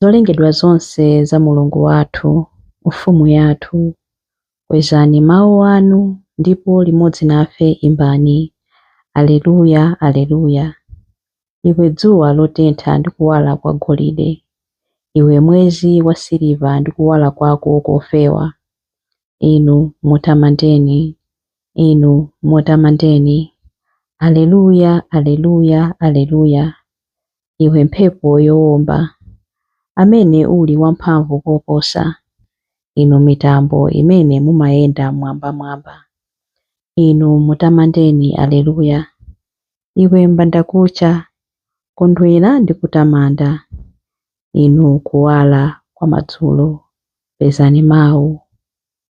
Zolengedwa zonse za Mulungu wathu, Mfumu yathu, kwezani mawu anu ndipo limodzi nafe imbani, Aleluya, Aleluya! Iwe dzuwa lotentha ndi kuwala kwa golide, iwe mwezi wa siliva ndi kuwala kwako kofewa, Inu mutamandeni, Inu mutamandeni, Aleluya, Aleluya, Aleluya! iwe mphepo yowomba, amene uli wamphamvu koposa, inu mitambo imene mumayenda m'mwambamwamba, inu mutamandeni Aleluya! Iwe mbandakucha, kondwera ndi kutamanda, inu kuwala kwa madzulo, pezani mawu.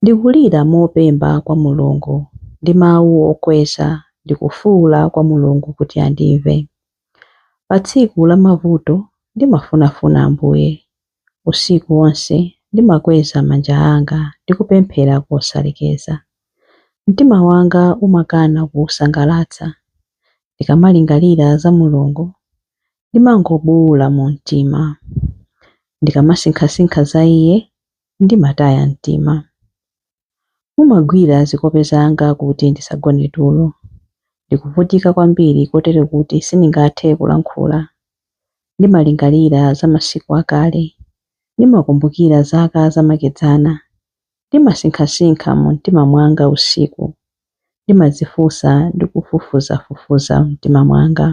Ndikulira mopemba kwa Mulungu ndi mawu okweza, ndikufuula kwa Mulungu kuti andimve. Pa tsiku la mavuto ndimafunafuna Ambuye, usiku wonse ndimakweza manja anga ndikupemphera kosalekeza. Mtima wanga umakana kuwusangalatsa, ndikamalingalira za Mulungu ndimangobuwula mu mtima. Ndikamasinkhasinkha za Iye, Ndimataya mtima. Mumagwira zikope zanga kuti ndisagone tulo. Ndikuvutika kwambiri kotero kuti sindingathe kulankhula. Ndimalingalira za masiku akale. Ndimakumbukira zaka zamakedzana. Ndimasinkhasinkha mu mtima mwanga usiku. Ndimadzifunsa ndi kufufuzafufuza m'mtima mwanga.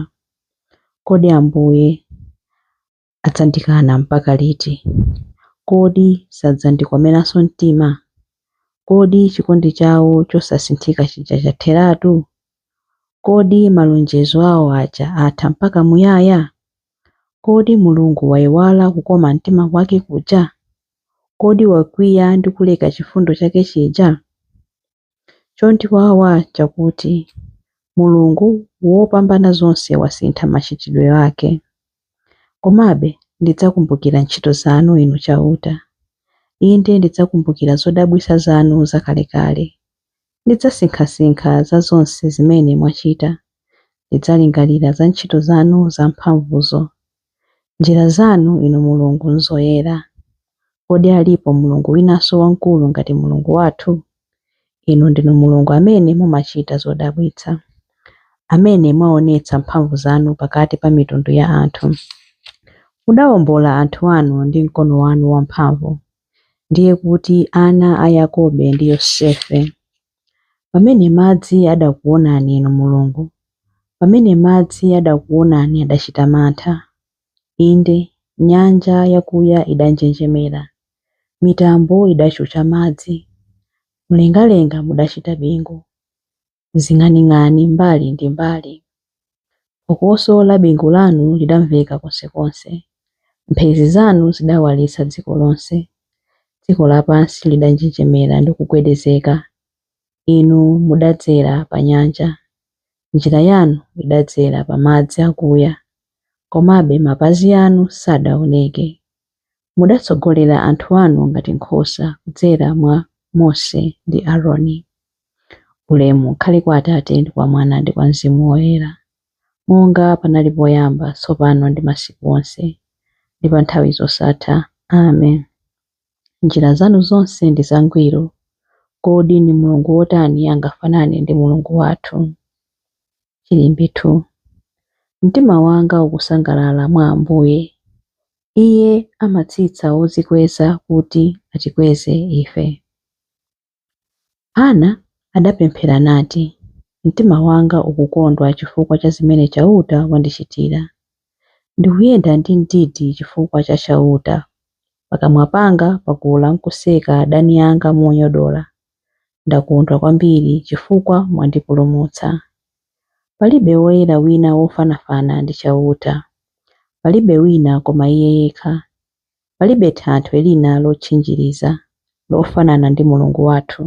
Kodi Ambuye Adzandikana mpaka liti? Kodi sadzandikomeranso mtima? Kodi chikondi chawo chosasinthika chija chatheratu? Kodi malonjezo awo aja atha mpaka muyaya? Kodi Mulungu waiwala kukoma mtima kwake kuja? Kodi wakwiya ndi kuleka chifundo chake chija? Chondiwawa nchakuti Mulungu Wopambanazonse wasintha machitidwe ake. Komabe ndidzakumbukira ntchito zanu, Inu Chauta. Inde, ndidzakumbukira zodabwitsa zanu zakalekale. Ndidzasinkhasinkha za zonse zimene mwachita, ndidzalingalira za ntchito zanu zamphamvuzo. Njira zanu, Inu Mulungu, nzoyera. Kodi alipo Mulungu winanso wamkulu ngati Mulungu wathu? Inu ndinu Mulungu amene mumachita zodabwitsa, amene mwaonetsa mphamvu zanu pakati pa mitundu ya anthu. Mudawombola anthu anu ndi mkono wanu wamphamvu, ndiye kuti ana a Yakobe ndi Yosefe. Pamene madzi adakuwonani, inu Mulungu, pamene madzi adakuwonani adachita mantha, inde, nyanja yakuya idanjenjemera, mitambo idachucha madzi, mlengalenga mudachita bingu, zing'aning'ani mbali ndi mbali. Phokoso la bingu lanu lidamveka konsekonse, mphezi zanu zidawalitsa dziko lonse. Dziko lapansi lidanjenjemera ndi kugwedezeka. Inu mudadzera pa nyanja, njira yanu idadzera pa madzi akuya, komabe mapazi anu sadaoneke. Mudatsogolera anthu anu ngati nkhosa kudzera mwa Mose ndi Aroni. Ulemu ukhale kwa Atate ndi kwa Mwana ndi kwa Mzimu Woyera, monga panali poyamba, tsopano ndi masiku onse, ndi pa nthawi zosatha. Amen. Njira zanu zonse ndi zangwiro. Kodi ni Mulungu wotani angafanane ndi Mulungu wathu? Chilimbi 2 Mtima wanga ukusangalala mwa Ambuye. Iye amatsitsa odzikweza kuti atikweze ife. Hana adapemphera nati, Mtima wanga ukukondwa chifukwa cha zimene Chauta wandichitira. Ndikuyenda ndi mdidi chifukwa cha Chauta. Pakamwa panga pakula nkuseka adani anga monyodola. Ndakondwa kwambiri chifukwa mwandipulumutsa. Palibe woyera wina wofanafana ndi Chauta. Palibe wina koma Iye yekha. Palibe thanthwe lina lotchinjiriza, lofanana ndi Mulungu wathu.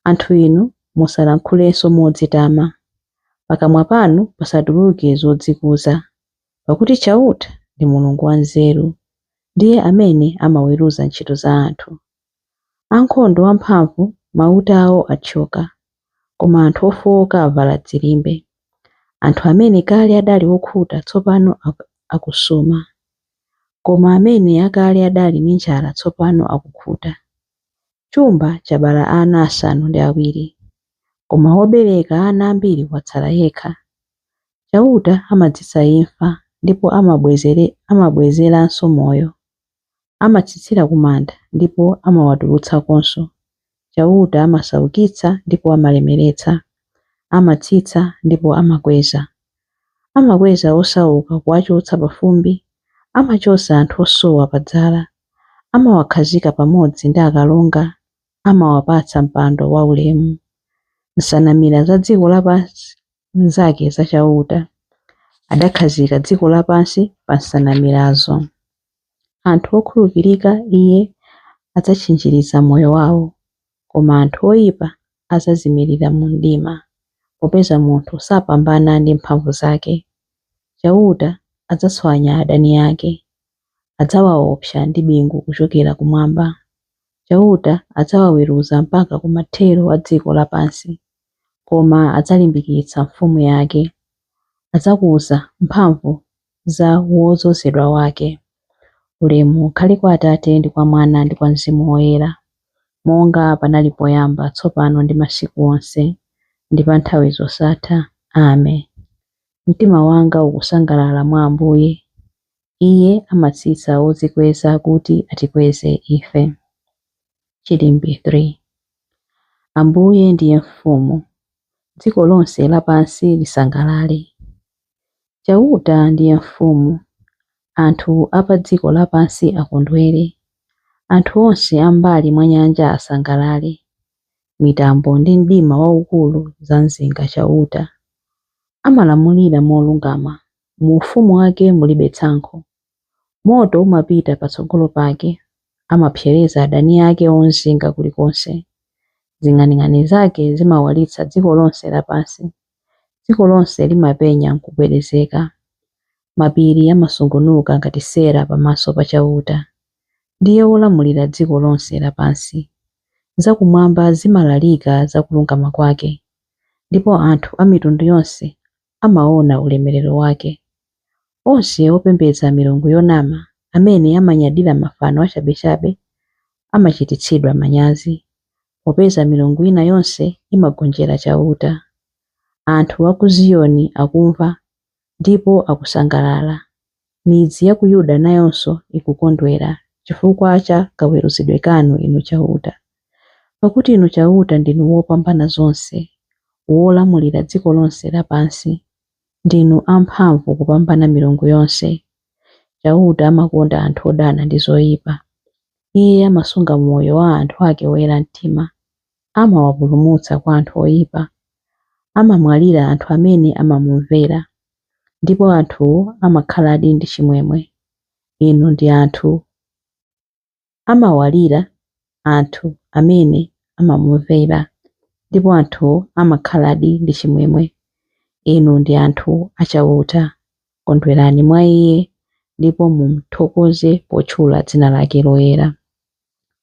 Anthu inu, musalankhulenso modzitama. Pakamwa panu pasatuluke zodzikuza. Pakuti Chauta ndi Mulungu wanzeru, ndiye amene amaweruza ntchito za anthu. Ankhondo amphamvu mauta awo athyoka, koma anthu ofowoka avala dzilimbe. Anthu amene kale adali okhuta tsopano akusuma, koma amene kale adali ndi njala tsopano akukhuta. Chumba chabala ana asanu ndi awiri, koma wobereka ana ambiri watsala yekha. Chauta amadzetsa imfa ndipo amabwezeranso moyo. amatsitsira ku manda ndipo amawatulutsakonso, Chauta amasaukitsa ndipo amalemeretsa, amatsitsa ndipo amakweza. Amakweza osauka kuwachotsa pa fumbi, amachotsa anthu osowa pa dzala, amawakhazika pamodzi ndi akalonga, amawapatsa mpando waulemu. Nsanamira za dziko lapansi nzake, za Chauta, adakhazika dziko lapansi pa nsanamirazo. Anthu okhulupirika Iye adzatchinjiriza moyo wao, koma anthu oipa adzazimirira mu mdima, popeza munthu sapambana ndi mphamvu zake. Chauta adzatswanya adani ake, adzawaopsa ndi bingu kuchokera kumwamba. Chauta adzawaweruza mpaka ku mathero a dziko lapansi. koma adzalimbikitsa mfumu yake. Adzakuza mphamvu za wodzozedwa wake. Ulemu ukhale kwa Atate, ndi kwa Mwana, ndi kwa Mzimu Woyera, monga panali poyamba, tsopano, ndi masiku onse, ndi pa nthawi zosatha. Ame. Mtima wanga ukusangalala mwa Ambuye. Iye amatsitsa odzikweza kuti atikweze ife. Chilimbi 3 Ambuye ndiye mfumu, dziko lonse lapansi lisangalale. Chauta ndiye mfumu, anthu a pa dziko lapansi akondwere, anthu onse a m'mbali mwa nyanja asangalale. Mitambo ndi mdima waukulu zamzinga Chauta. Amalamulira molungama, mu ufumu wake mulibe tsankho. Moto umapita patsogolo pake, amapsereza adani ake omzinga kulikonse. Zing'aning'ani zake zimawalitsa dziko lonse lapansi, dziko lonse limapenya n'kugwedezeka. Mapiri amasungunuka ngati sera pamaso pa Chauta, ndiye wolamulira dziko lonse lapansi. Zakumwamba zimalalika za kulungama kwake, ndipo anthu a mitundu yonse amaona ulemerero wake. Onse opembedza milungu yonama, amene amanyadira mafano achabechabe, amachititsidwa manyazi, popeza milungu ina yonse imagonjera Chauta. Anthu a ku Ziyoni akumva, ndipo akusangalala. Midzi ya ku Yuda nayonso ikukondwera chifukwa cha kaweruzidwe kanu, Inu Chauta. Pakuti Inu Chauta ndinu Wopambanazonse, wolamulira dziko lonse lapansi. Ndinu amphamvu kupambana milungu yonse. Chauta amakonda anthu odana ndi zoipa. Iye amasunga moyo wa anthu ake oyera mtima. amawapulumutsa kwa anthu oyipa, amamwalira anthu amene amamumvera, ndipo anthuwo amakhaladi ndi chimwemwe. Inu ndi anthu amawalira anthu amene amamumvera, ndipo anthuwo amakhaladi ndi chimwemwe. Inu ndi anthu a Chauta. Kondwerani mwa Iye, ndipo mumthokoze potchula dzina lake loyera.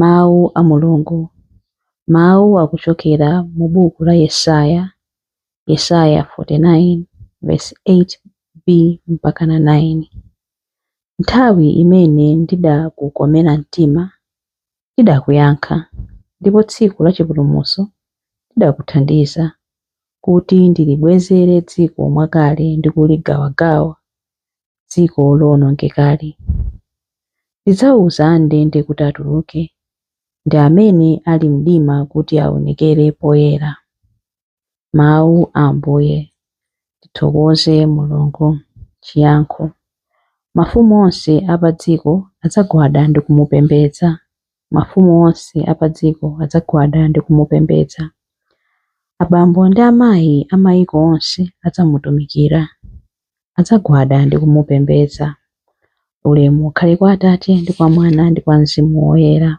Mawu a Mulungu. Mawu akuchokera mu buku la Yesaya, Yesaya 49 verse 8b mpaka na 9. Nthawi imene ndidakukomera mtima ndidakuyankha, ndipo tsiku la chipulumutso ndidakuthandiza, kuti ndilibwezere dziko mwakale ndi kuligawagawa, dziko lowonongekali. Ndidzauza andende kuti atuluke, ndi amene ali mdima kuti aonekere poyera. Mawu a Ambuye. Tithokoze Mulungu. Chiyankho Mafumu onse a padziko adzagwada ndi kumupembedza. Mafumu onse a padziko adzagwada ndi kumupembedza. Abambo ndi amayi a mayiko onse adzamutumikira. adzagwada ndi kumupembedza. Ulemu ukhale kwa Atate ndi kwa Mwana ndi kwa Mzimu Woyera.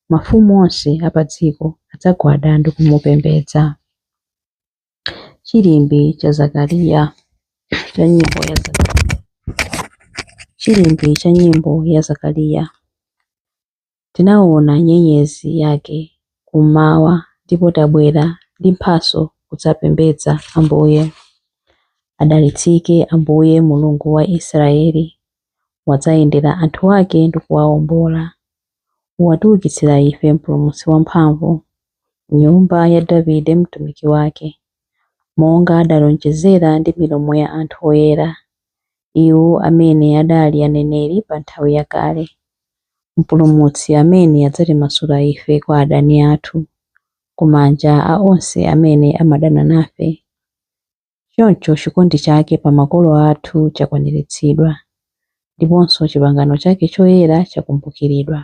Mafumu onse a pa dziko adzagwada ndi kumupembedza. Chilimbi cha Zakariya cha nyimbo ya Zakariya. Chilimbi cha nyimbo ya Zakariya. Tinawona nyenyezi yake kum'mawa ndipo tabwera ndi mphatso kudzapembedza Ambuye. Adalitsike Ambuye, Mulungu wa Israyeli, wadzayendera anthu ake ndi kuwawombola. Watiukitsira ife mpulumutsi wamphamvu, m'nyumba ya Davide mtumiki wake, monga adalonjezera ndi milomo ya anthu oyera. iwo amene adali aneneri pa nthawi yakale, Mpulumutsi amene adzatimasula ife kwa adani athu, ku manja a onse amene amadana nafe. Choncho chikondi chake pa makolo athu chakwaniritsidwa, ndiponso chipangano chake choyera chakumbukiridwa.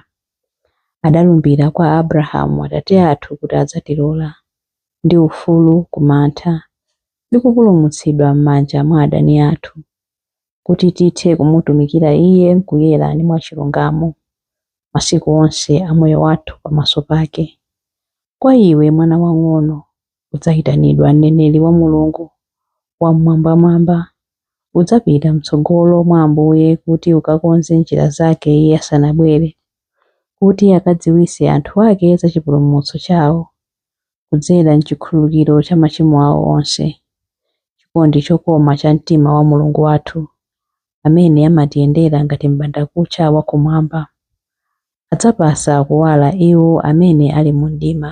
Adalumbira kwa Abrahamu atate athu kuti adzatilola, ndi ufulu ku mantha, ndi kupulumutsidwa m'manja mwa adani athu, kuti tithe kumutumikira Iye m'kuyera ndi mwachilungamo masiku onse a moyo wathu pamaso pake. Kwa iwe, mwana wang'ono, udzayitanidwa mneneri wa Mulungu Wammwambamwamba. Udzapita m'tsogolo mwa Ambuye kuti ukakonze njira zake Iye asanabwere, kuti akadziwitse anthu ake za chipulumutso chawo. kudzera m'chikhululukiro cha machimo awo onse, chikondi chokoma cha mtima wa Mulungu wathu, amene amatiyendera ngati m'bandakucha wa kumwamba, adzapatsa kuwala iwo amene ali mu mdima,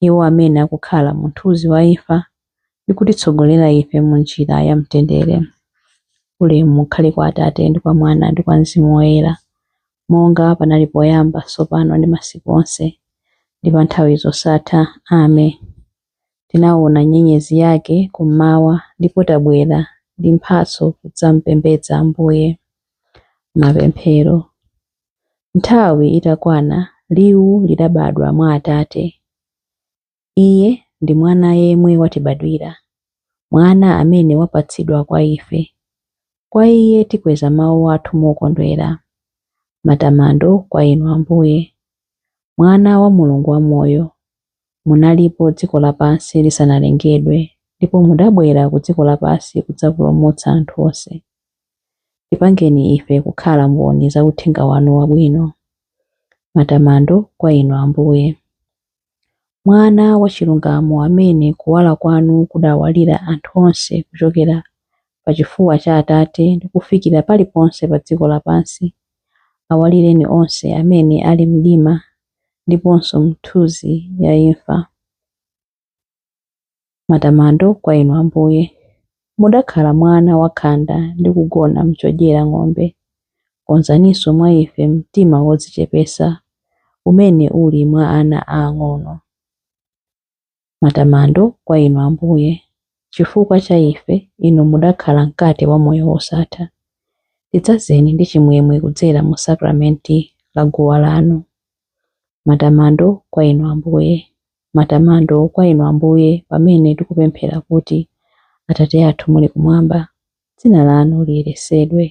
iwo amene akukhala mu mthunzi wa imfa, ndi kutitsogolera ife mu njira ya mtendere. Ulemu ukhale kwa Atate, ndi kwa Mwana, ndi kwa Mzimu Woyera, monga panali poyamba, tsopano ndi masiku onse, ndi pa nthawi zosatha. Amen. Tinaona nyenyezi yake kummawa ndipo tabwera ndi mphatso kudzampembedza Ambuye. Mapemphero. Nthawi itakwana, liwu lidabadwa mwa Atate. Iye ndi Mwana yemwe watibadwira, Mwana amene wapatsidwa kwa ife. Kwa Iye tikweza mawu athu mokondwera. Matamando kwa Inu, Ambuye. Mwana wa Mulungu wamoyo, munalipo dziko lapansi lisanalengedwe ndipo mudabwera ku dziko lapansi kudzapulumutsa anthu onse. Tipangeni ife kukhala mboni za uthenga wanu wabwino. Matamando kwa Inu, Ambuye. Mwana wa chilungamo amene kuwala kwanu kudawalira anthu onse kuchokera pa chifuwa cha Atate ndi kufikira paliponse pa dziko lapansi, awalireni onse amene ali m'mdima ndiponso m'nthunzi ya imfa. Matamando kwa Inu Ambuye. Mudakhala mwana wakhanda ndi kugona m'chodyera ng'ombe. Konzaninso mwa ife mtima wodzichepetsa umene uli mwa ana aang'ono. Matamando kwa Inu Ambuye. Chifukwa cha ife, Inu mudakhala mkate wa moyo wosatha. Tidzazeni ndi chimwemwe kudzera mu sakramenti la guwa lanu. Matamando kwa Inu Ambuye. Matamando kwa Inu, Ambuye, pamene tikupemphera kuti, Atate athu muli kumwamba, dzina lanu liyeretsedwe,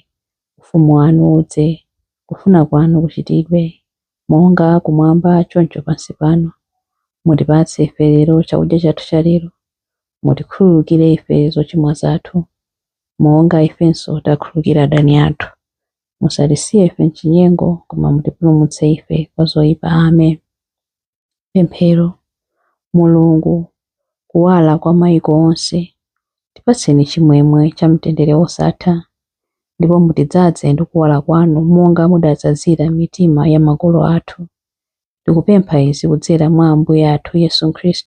ufumu wanu udze, kufuna kwanu kuchitidwe, monga kumwamba choncho pansi pano. Mutipatse ife lero chakudya chathu cha lero. Mutikhululukire ife zochimwa zathu, monga ifenso takhululukira adani athu. Musatisiye ife m'chinyengo, koma mutipulumutse ife kwa zoipa. Amen. Pemphero, Mulungu, kuwala kwa maiko onse, tipatseni chimwemwe cha mtendere wosatha, ndipo mutidzaze ndi kuwala kwanu monga mudadzazira mitima ya makolo athu. Tikupempha izi kudzera mwa Ambuye athu Yesu Khristu.